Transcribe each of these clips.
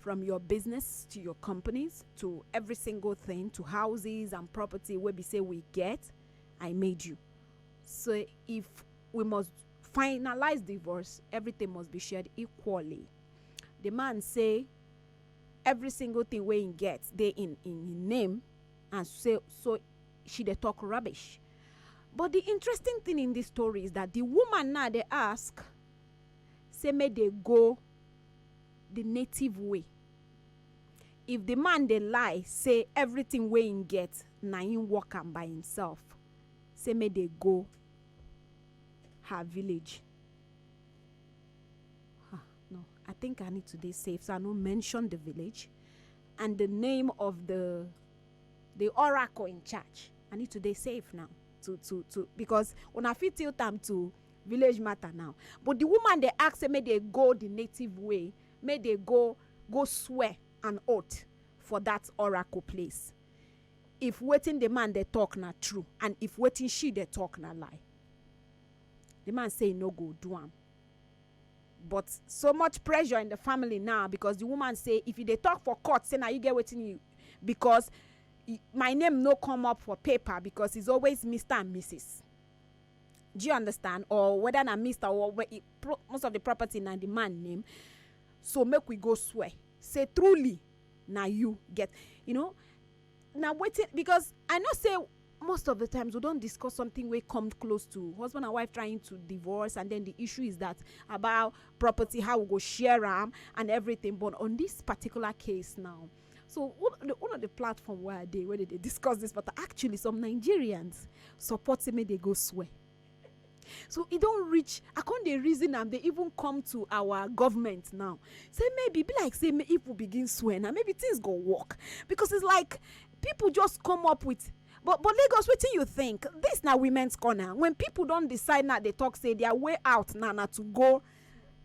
from your business to your companies to every single thing to houses and property where we say we get i made you so if we must finalize divorce everything must be shared equally the man say every single thing wey him get dey in in him name and say so she dey talk rubbish but the interesting thing in this story is that the woman now dey ask say make they go the native way if the man dey lie say everything wey him get na him work am by himself say make dey go her village ah no i think i need to dey safe so i no mention the village and the name of the the oracle in charge i need to dey safe now to to to because una fit tilt am to village matter now but the woman dey ask say make dey go the native way make dey go go swear an oath for that oracle place if wetin the man dey talk na true and if wetin she dey talk na lie the man say e no go do am but so much pressure in the family now because the woman say if you dey talk for court say na you get wetin you because my name no come up for paper because it's always Mister and Mrs. do you understand or whether na mr or where e pro most of the property na the man name so make we go swear say truly na you get you know na wetin because i know say most of the times we don discuss something wey come close to husband and wife trying to divorce and then the issue is that about property how we go share am and everything but on this particular case now so one of the one of the platform where i dey where they dey discuss this matter actually some nigerians support say make they go swear so e don reach i con dey reason am dey even come to our government now say maybe be like say if we begin swear now maybe things go work because it's like people just come up with but but lagos wetin you think this na women's corner when people don decide now dey talk say their way out now na to go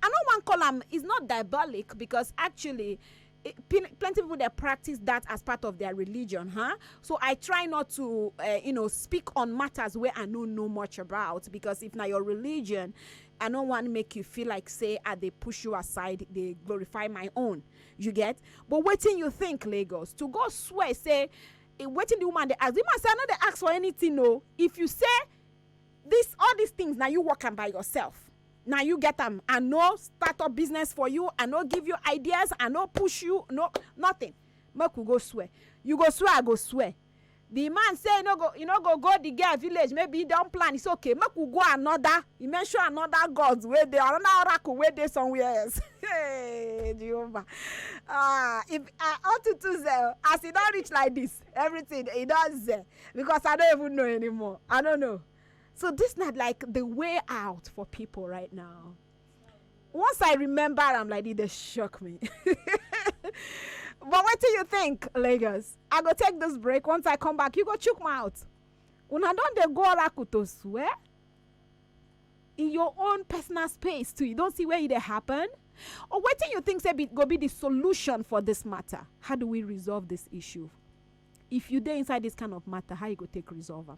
i no wan call am it's not diabolic because actually eh, plenty people they practice that as part of their religion, huh? So I try not to, uh, you know, speak on matters where I know no much about because if now your religion, I don't want to make you feel like say ah they push you aside, they glorify my own. You get? But waiting you think Lagos to go swear say eh, waiting the woman they ask the woman say I know they ask for anything no. If you say this all these things now you work on by yourself Na you get am, I no start up business for you, I no give you ideas, I no push you, no nothing. Make we go swear. You go swear, I go swear. The man say e no go e no go go the girl village, maybe e don plan, e say okay make we go another, e mention another gods wey dey, another oracle wey dey somewhere else. Hey Jehovah! Ah, if I unto to sell, as e don reach like this, everything e don sell because I no even know anymore, I no know. So this not like the way out for people right now. Once I remember, I'm like, they shock me. but what do you think, Lagos? I go take this break. Once I come back, you go choke my out. Una don dey go oracle to swear in your own personal space too. You don't see where it happen. Or what do you think say be, go be the solution for this matter? How do we resolve this issue? If you dey inside this kind of matter, how you go take resolve am?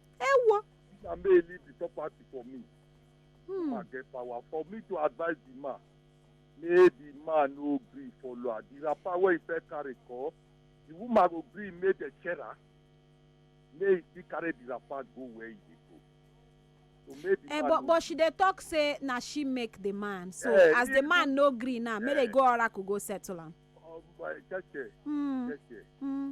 Ewo. Na me leave the property for me. Hmm. I get power for me to advise the man. May the man no gree follow her. The wrapper wey he first carry call, the woman go gree make dem share am. May he still carry the wrapper go where he dey go. So may the Eh, man but no but she dey talk say na she make the man. So Eh, as the even- man no gree now, make they go oracle go settle am. um, uh, cheche, Hmm. cheche. Hmm.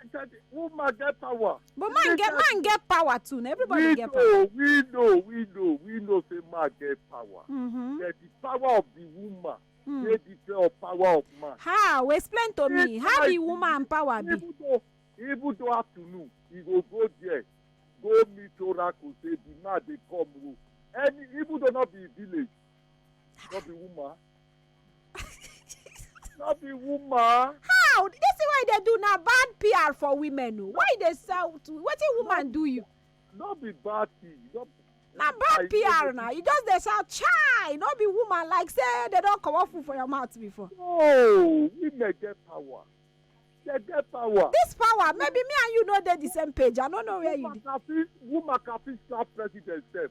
I said, woman get power. But man get man get power too. Now everybody we get know, power. We know, we know, we know. Say man get power. Mm-hmm. That the power of the woman. Mm. They different of power of man. How? Explain to it's me. How the woman power be? Even though, even though afternoon, he go go there, go meet oracle. Say the man they come. Any even though not be village, not be woman. no be woman. how this thing wey you dey do na bad pr for women o why you dey sell to wetin woman do you no be bad thing no be na bad pr na you just dey sell chai no be woman like say dem don comot food for your mouth before no women get power they get power. this power maybe me and you no dey the same page i no know where you woman dey can fit woman can fit slap president sef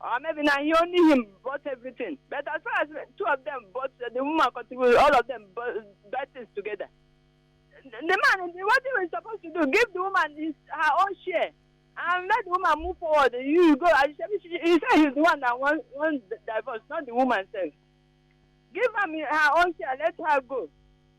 or maybe na he only him bought everything but as far as two of them bought uh, the woman contribute all of them bought, buy things together the man what he was supposed to do give the woman his her own share and let the woman move forward you go and she, she, he say he's the one that wan wan divorce not the woman sef give am her own share let her go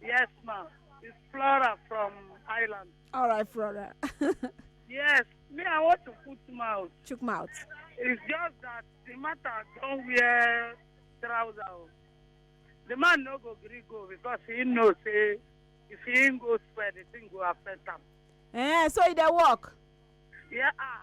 Yes, ma'am. It's Flora from Ireland. All right, Flora. yes, me, I want to put mouth. Chook mouth. It's just that the matter don't wear trousers. The man no go gree go because he know say if he ain't go swear the thing go affect him. Eh, so e dey work. Yeah, ah.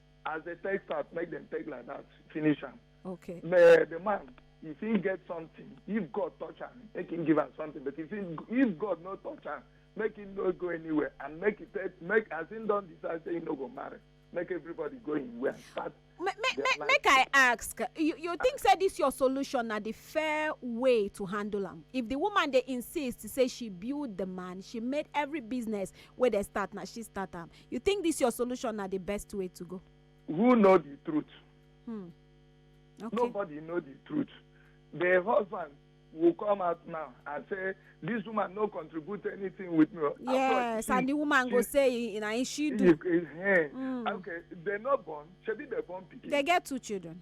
as they take start make them take like that finish am okay the the man if he get something if god touch am make him give am something but if he if god no touch am make him no go anywhere and make he take make as him don decide say he no go marry make everybody go him way and start make make their make life. make i ask you you think say this your solution na the fair way to handle am if the woman dey insist say she build the man she made every business wey dey start na she start am You think this your solution na the best way to go? Who know the truth? Hmm. Okay. Nobody know the truth. The husband will come out now and say this woman no contribute anything with me. yes and the woman she, go say na him she do. If, if, hey, mm. okay they no born shebi they born pikin. they get two children.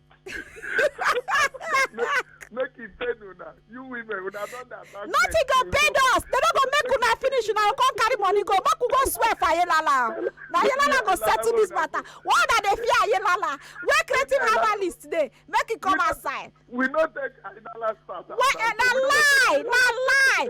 make e pain una you women una don dey attack me. nothing go pain us dem no go make una finish una go come carry money go make we go swear for ayelala o na ayelala go settle this matter why una dey fear ayelala wey creative herbalist dey make e come outside we no take ayinala start as wey na lie na lie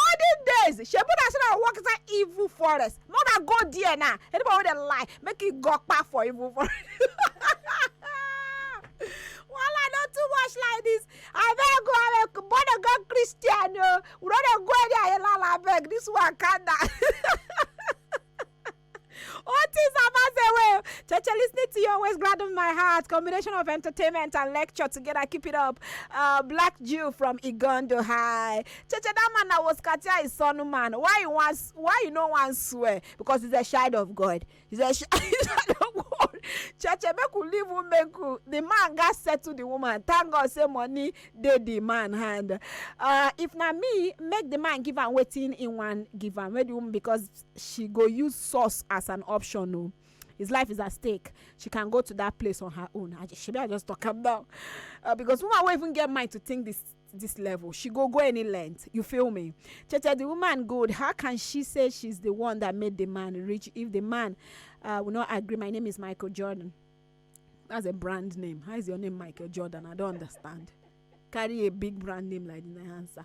olden days shebi una say na work inside evil forest no na go there na anybody wey dey lie make e go kpa for evil forest wahala no too much like this abeg go abeg born again christian o we no dey go any ayelala abeg this one calm down. Otis Abazewe, Cheche listening to you always gladden my heart. Combination of entertainment and lecture together. Keep it up. Uh, Black Jew from Igondo High. Cheche, that man that was Katia is son man. Why you want, why you no one swear? Because he's a child of God. He's a child of God. Cheche, make we leave women cool. The man got said to the woman, thank God say money dey the man hand. Uh, if na me, make the man give am wetin he wan give am. Make the woman because she go use source as an option o his life is at stake she can go to that place on her own i just shebi i just talk am now uh, because woman wey even get mind to think this this level she go go any length you feel me cheche the woman good how can she say she's the one that made the man rich if the man uh, will not agree my name is michael jordan that's a brand name how is your name michael jordan i don't understand carry a big brand name like the answer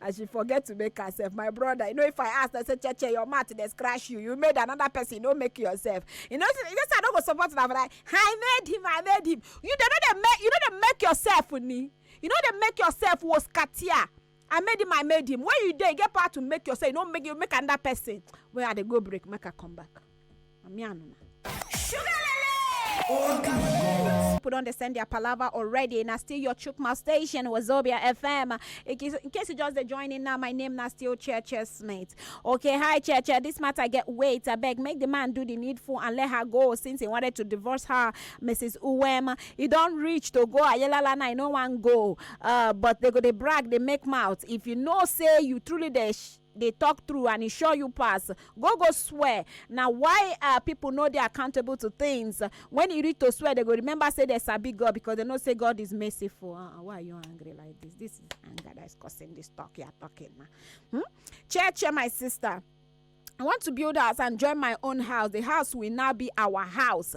and she forget to make herself my brother you know if i ask i say cheche your mouth dey scratch you you made another person you no make yourself you know you know say i no go support una for that i made him i made him you dey no dey make you no dey make yourself ni you no dey make yourself was katia i made him i made him when you dey you get power to make yourself you no make you make another person when i dey go break make i come back. na me and una. people don dey send their palava already na still your chukma station wazobia fm in case, in case you just dey join in now my name na still cheche smith okay hi cheche this matter get weight abeg make the man do the needful and let her go since he wanted to divorce her mrs uwem e don reach to go ayelala na e no wan go uh, but they go dey brag dey make mouth if you know say you truly dey. Sh- dey talk true and e sure you pass go go swear na why uh, people no dey accountable to things when e reach to swear they go remember say they sabi god because they know say god is merciful uh, why are you angry like this this is anger that is causing this talk you are talking now hmm? chair chair my sister I want to build house and join my own house. The house will now be our house.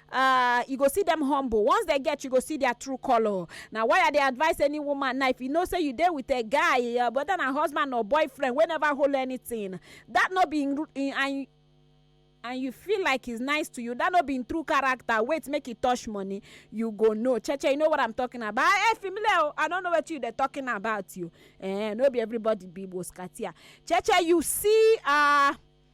ah you go see dem humble once dem get you go see their true color na why i dey advise any woman now if you know say you dey with a guy your brother na husband or boyfriend wey never hold anything that no be in, in, and and you feel like he's nice to you that no be in true character wait make he touch money you go know cheche you know what i'm talking about hey familiar oh, i don't know what you dey talking about you eh no be everybody be boskatia cheche you see ah. Uh,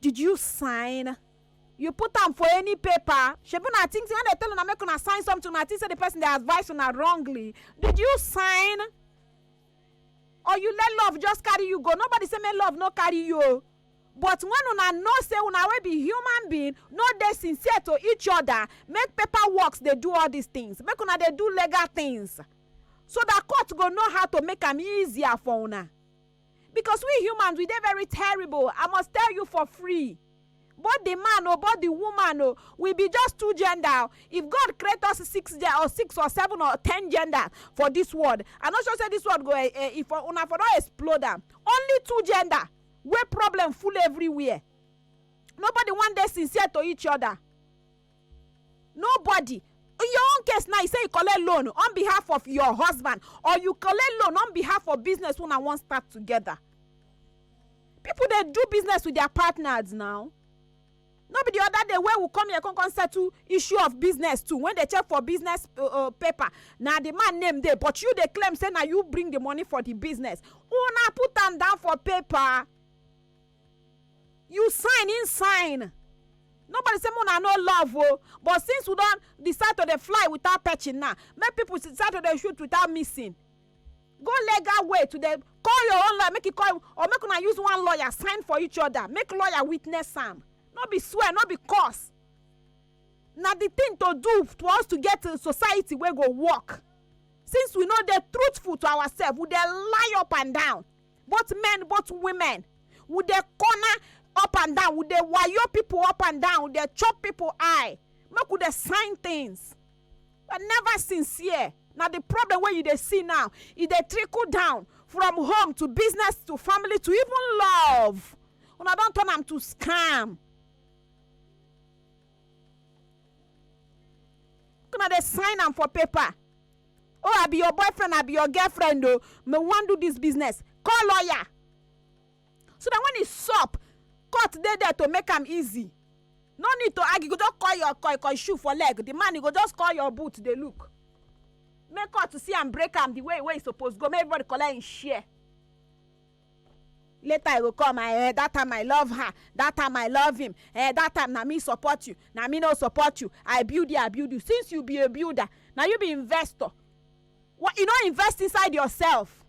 Did you sign? You put am for any paper? Shebi una think say when dem tell una make una sign something, una think say the person dey advise una wrongly? Did you sign? Or you let love just carry you go? Nobody say make love no carry you o. But when una know say una wey be human being no dey sincere to each other, make paper works dey do all these things. Make una dey do legal things so that court go know how to make am easier for una. Because we humans we dey very terrible, I must tell you for free. Both the man o, both the woman o, we be just two gender. If God create us six gen or six or seven or ten gender for this world, I no sure say this world go eh, eh, if una for don explode am. Only two gender wey problem full everywhere. Nobody wan dey sincere to each other. nobody in your own case now you say you collect loan on behalf of your husband or you collect loan on behalf of business una wan start together people dey do business with their partners now no be the other day wey we come here come come settle issue of business too when they check for business uh, uh, paper na the man name dey but you dey claim say na you bring the money for the business una put am down for paper you sign im sign nobody say una no love o but since we don decide to dey fly without perching now make people decide to dey shoot without missing go legal way to dey call your own lawyer make you call or make una use one lawyer sign for each other make lawyer witness am no be swear no be curse na the thing to do for us to get a society wey go work since we no dey truthful to ourselves we dey lie up and down both men both women we dey corner up and down we dey wayo people up and down we dey chop people eye make we dey sign things but never sincere na the problem wey you dey see now e dey trickle down from home to business to family to even love una don turn am to scam una dey sign am for paper Oh, I be your boyfriend, I be your girlfriend, oh, me wan do this business. Call lawyer. So that when e sup, court dey there to make am easy. No need to argue, you go just call your koi koi shoe for leg. The man, you go just call your boot, dey look. Make court see am, break am the way wey e suppose go, make everybody collect im share. later e go come and eh that time I love her that time I love him eh that time na me support you na me no support you I build you I build you since you be a builder na you be investor what you no invest inside yourself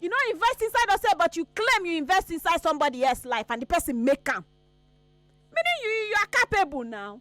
you no invest inside yourself but you claim you invest inside somebody else life and the person make am meaning you you are capable now